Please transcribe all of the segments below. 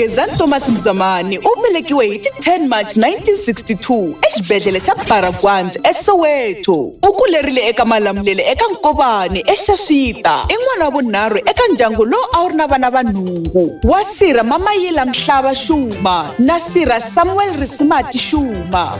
gezani thomas mzamani u velekiwe hi ti 10 march 1962 exibedhlele xa baragwandz esoweto u kulerile eka malamulele eka nkovani exaxita i n'wana wa vunharhu eka ndyangu lowu a wu ri na vana va nhungu wa sirha mamayila mhlava xuma na sirha samuel risimati xuma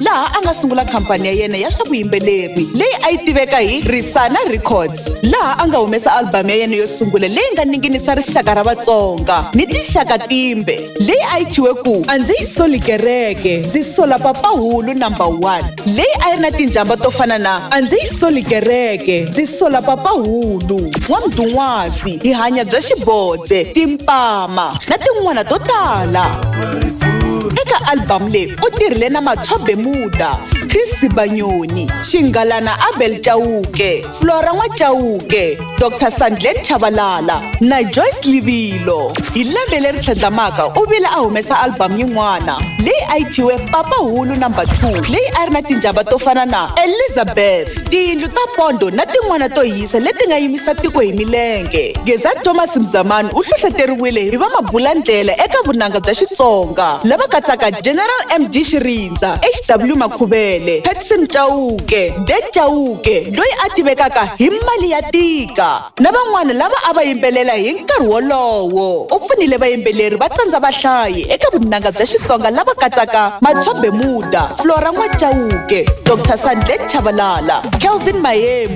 laha a nga sungula khampani ya yena ya swa vuyimbeleri leyi a yi tiveka hi risana records laha a nga humesa albhamu ya yena yo sungula leyi nga ninginisa rixaka ra vatsonga ni tinxaka timbe leyi a yi thyiwe ku a ndzi yi soli kereke ndzi sola papahulu number one leyi a yi ri na tinjhamba to fana na a ndzi yi soli kereke ndzi sola papahulu n'wamdun'wasi hi hanya bya xibodze timpama na tin'wana to tala eka albhamu leyi u tirhile na matshobe muda chris sibanyoni xingalana abel chauke flora n'wachauke dr sandlet chavalala na joyce livilo hi lembe leri tlhandlamaka u vile a humesa albhamu yin'wana leyi a yi thyiwe papa hulu number 2 leyi a ri na tinjhava to fana na elizabeth tiyindlu ta pondo na tin'wana to yi tisa leti nga yimisa tiko hi milenge geza thomas mzamani u hlohleteriwile hi vamabulandlela eka vunanga bya xitsonga lava katsaka general md xirindza hw makhuvele petson chauke de chauke loyi a tivekaka hi mali ya tika na van'wana lava a va yimbelela hi nkarhi wolowo u pfunile vayimbeleri va tsandza vahlayi eka vunanga bya xitsonga lava katsaka matshobe muda flora n'wachauke dr sandlet chavalala kelvin mayemu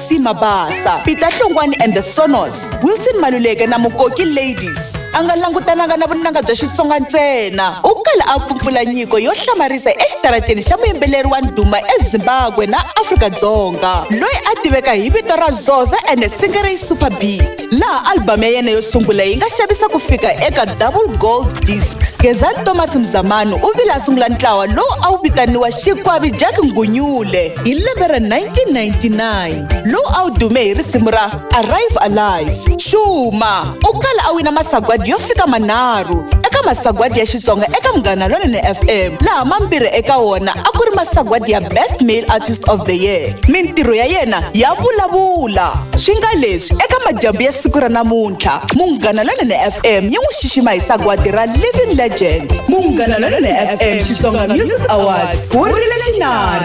Maxi Mabasa, Peter Hlongwani and the Sonos, Wilson Maluleke na Mukoki Ladies. A nga langutananga na vunanga bya Xitsonga ntsena, u kala a pfupfula nyiko yo hlamarisa exitarateni xa muyimbeleri wa ndhuma eZimbabwe na Afrika-Dzonga, loyi a tiveka hi vito ra Zoza and Singeri Super Beat, laha album ya yena yo sungula yi nga xavisa ku fika eka double gold disc. Gezani Thomas Mzamani u vile a sungula ntlawa lowu a wu vitaniwa Xikwavi Jack Ngunyule. hi lembe ra 1999 lowu a wu dume hi risimu ra arrive alive xuma u kala a wina masagwadi yo fika manharhu eka masagwadi ya xitsonga eka munghana lonene fm laha mambirhi eka wona a ku ri masagwadi ya best male artist of the year mintirho ya yena ya vulavula swi nga leswi eka madyambu ya siku ra namuntlha munghana lonene fm yi n'wi xixima hi sagwadi ra living legend munghana lonene fm xitsonga music awards wu rile xinari